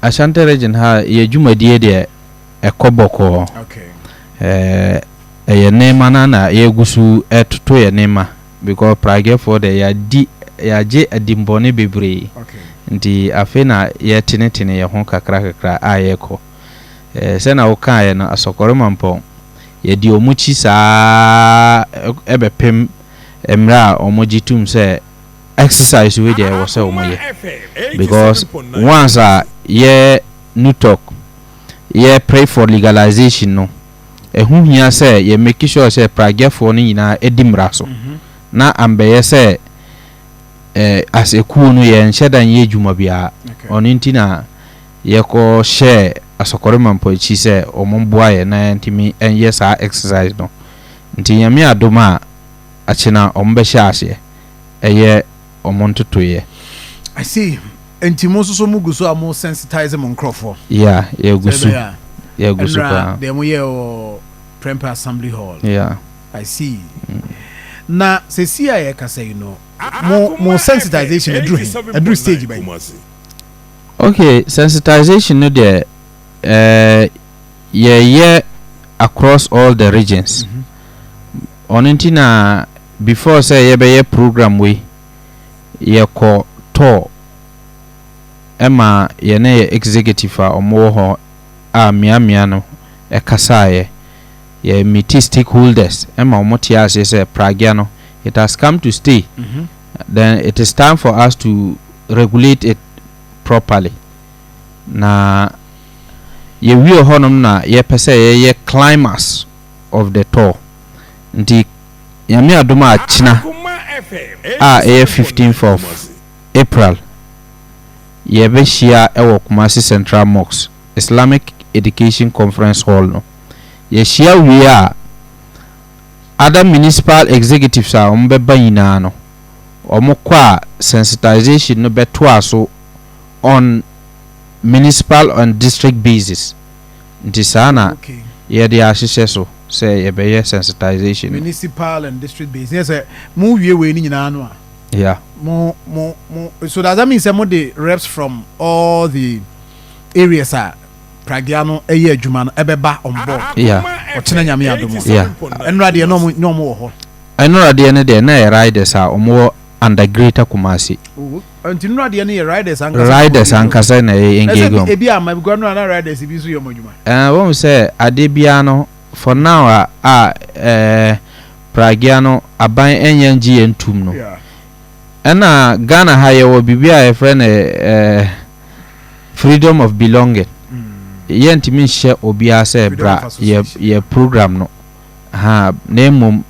Ashanti region ha yɛ dwumadie deɛ ɛkɔ bɔkɔɔ ɛyɛ nneɛma no ara na yɛgu so ɛtoto yɛn nneɛma because Praguefoɔ deɛ yɛadi yɛagye adimmɔne bebree nti afei na yɛretenetene yɛn ho kakra kakra a yɛrekɔ sɛdeɛ wokaeɛ no Asɔkɔre Mampɔn yɛdi wɔn akyi saa ara ɛbɛpem mmerɛ a wɔgye tom sɛ exercise wei deɛ ɛwɔ sɛ ɔmo yɛ because once a yɛ NUTOC yɛ pray for legalization no ɛho hia sɛ yɛ make sure sɛ pragyɛfoɔ no nyinaa ɛdi mmara so mhm. na ambɛyɛ sɛ eh, as ekuo no yɛn nhyɛ da nyɛ adwuma biara ɔno nti na yɛkɔ hyɛ asɔkɔre mampɔ akyi sɛ wɔn mboa yɛ na yɛntumi nyɛ saa exercise no nti nyame adom a akye na ɔmo bɛhyɛ aseɛ ɛyɛ ɔmo ntotoeɛ. I see, nti mo nso so mo gu so a mo sensitize mo nkorɔfoɔ? Yeah, yɛ gu so, yɛ gu so paa. Ɛnura deɛ mo yɛɛ wɔ Prempeh Assembly Hall. Yeah. I see. Na sɛsi a yɛ kasa yi no, mo mo sensitization aduru he? Aduru stage bɛn? Okay, sensitization no deɛ ɛɛ. yɛyɛ across all the regions ɔno nti na before sɛ yɛbɛyɛ program wei yɛkɔ tour ɛma yɛne yɛ executive a wɔn wɔ hɔ a mmeammea no ɛkasaeɛ yɛ meet stakeholders ɛma wɔn te aseɛ sɛ pragya no it has come to stay mm -hmm. then it is time for us to regulate it properly. Na yɛwie hɔ nom na yɛpɛ sɛ yɛyɛ climax of the tour. Nti Nyame adom a kyena a ɛyɛ 15th of April yɛbɛhyia wɔ Kumasi Central Mosque Islamic Education Conference Hall no. Yɛhyia wie a other municipal executives a wɔbɛba nyinaa no wɔkɔ a sensitization no bɛtoa so On municipal and district basis nti saa na yɛde ahyehyɛ so sɛ yɛbɛyɛ sensitization no. Municipal and district basis ne yɛ sɛ mo wie wei no nyinaa no a yeah mo mo mo so does that mean sɛ mo de reps from all the areas a pragya no ɛyɛ adwuma no ɛbɛba on board yeah ɔkyena nyame adom a yeah ɛnora deɛ na ɔmo wɔ hɔ ɛnora deɛ no deɛ na ɛyɛ riders a ɔmo wɔ under greater kumasi oh, okay. Nti nnura deɛ no yɛ riders ankasa. Riders ankasa na ɛyɛ engage wɔn. Ebi a ma because nnura na riders bi nso yɛ wɔn adwuma. Ɛɛ wɔn sɛ adeɛ biara no for now a a ɛɛ pragea no aban ɛnyɛ ngye yɛn tum no. Ɛna Ghana ha yɛ wɔ biribi a yɛfrɛ no ɛɛ freedom of belonging. Mm. Yɛn ntumi nhyɛ obiara sɛ bra yɛ yɛ program no ha na mmom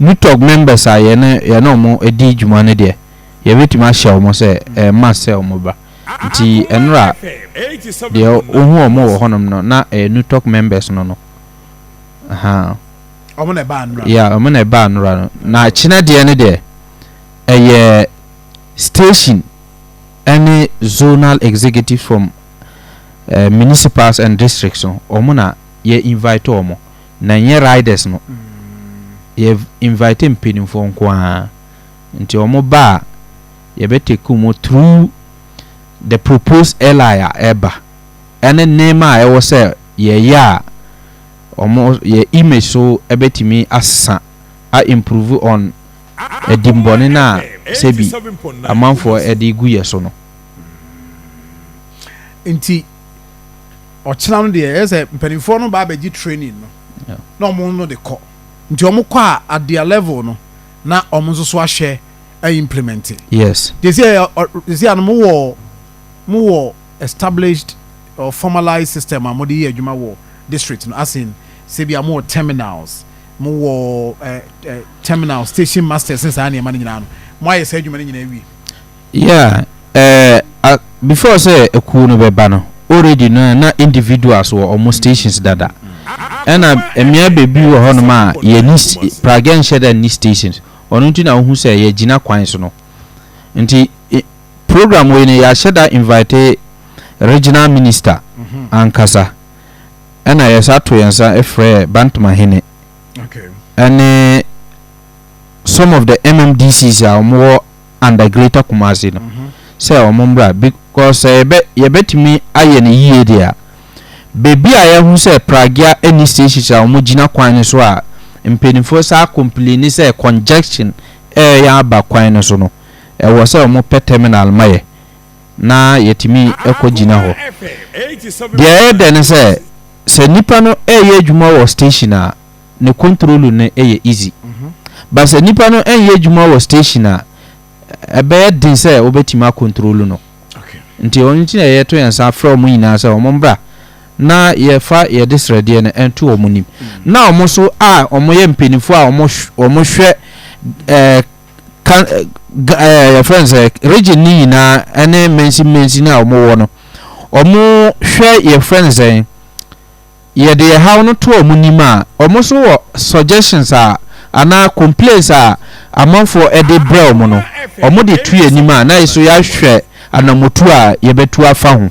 nutɔg members a yɛne yɛne wɔn di dwuma no deɛ. Yɛbɛtumi ahyɛ wɔn sɛ ɛmma sɛ wɔn ba. Nti ɛnora deɛ wohu wɔn wɔ hɔnom no na ɛyɛ NUTOC members no no. Ahaa. Wɔn na ɛbaa anora. Yeah, wɔn na ɛbaa anora no. Na kyena deɛ no deɛ ɛyɛ station ɛne zonal executives from uh, municipals and districts no wɔn na yɛ invite wɔn na nyɛ riders no. Mm. Yɛ invite mpanimfoɔ nko ara. Nti ɔmo ba a yɛbɛ take ɔmo through the proposed LI a ɛɛba ɛne nneema a ɛwɔ sɛ yɛɛyɛ a ɔmo yɛ image so ɛbɛtumi asesa a improve on ɛdimmɔne no a sɛbi amanfoɔ ɛde gu yɛ so no. Nti ɔkyena no deɛ ɛyɛ sɛ mpaninfoɔ no ba abɛgye training no na ɔmo no de kɔ. Nti ɔmo kɔ a at their level no. na wɔn nso so ahwɛ a implementi. Yes. Gyesi a gyesi a no mo wɔ mo wɔ established or formalized system a mo de yɛ adwuma wɔ district no as in sɛ bi a mo wɔ terminals mo wɔ eh, eh, terminal station masters ne saa nneɛma no nyinaa no mo ayɛ saa adwuma no nyinaa wie. Yeah eh before sɛ akuo no bɛba no already no na individuals wɔ ɔmo stations dada ɛna mmea bebi wɔ hɔ nom a yɛni pragɛ nhyɛ da nni stations ɔno nti na wohu sɛ yɛgyina kwan so no nti program wei no yɛahyɛ da invite regional minister ankasa ɛna yɛsa to yɛn nsa frɛ Bantama hene ɛne some of the MMDCs a wɔn wɔ under greater Kumasi no sɛ wɔn mmra be cause sɛ yɛbɛ yɛbɛtumi ayɛ no yie deɛ a baabi a yɛahu sɛ Pragya ɛni stations a wɔn gyina kwan no so a mpaninfoɔ saa complini sɛ congestion ɛɛyɛ aba kwan no so no ɛwɔ sɛ wɔn pɛ terminal ma yɛ na yɛtumi ɛkɔ gyina hɔ deɛ ɛyɛ dɛ no sɛ sɛ nipa no ɛɛyɛ adwuma wɔ station a. ne kontrolu no yɛ easy. But sɛ nipa no ɛnyɛ adwuma wɔ station a, ɛbɛyɛ den sɛ wobɛtumi akontrolu no. Nti wɔn nti na yɛto yɛn nsa frɛ wɔn nyinaa sɛ wɔn mbra na yɛfa yɛde srɛdeɛ no ɛnto wɔn nim. Na wɔn nso a wɔn yɛ mpanyinfoɔ a wɔn wɔn hwɛ ɛɛ ka ɛɛ yɛfrɛ no sɛ region ne nyinaa ɛne mɛnsi mɛnsi no a wɔn wɔ no wɔn hwɛ yɛfrɛ no sɛ. Yɛde yɛ haw no to ɔmo nim a, ɔmo nso wɔ suggestions a anaa complains a amanfoɔ de brɛ ɔmo no, ɔmo de to yɛn anim a na yɛso yɛahwɛ anamotuo a yɛbɛtu afa ho.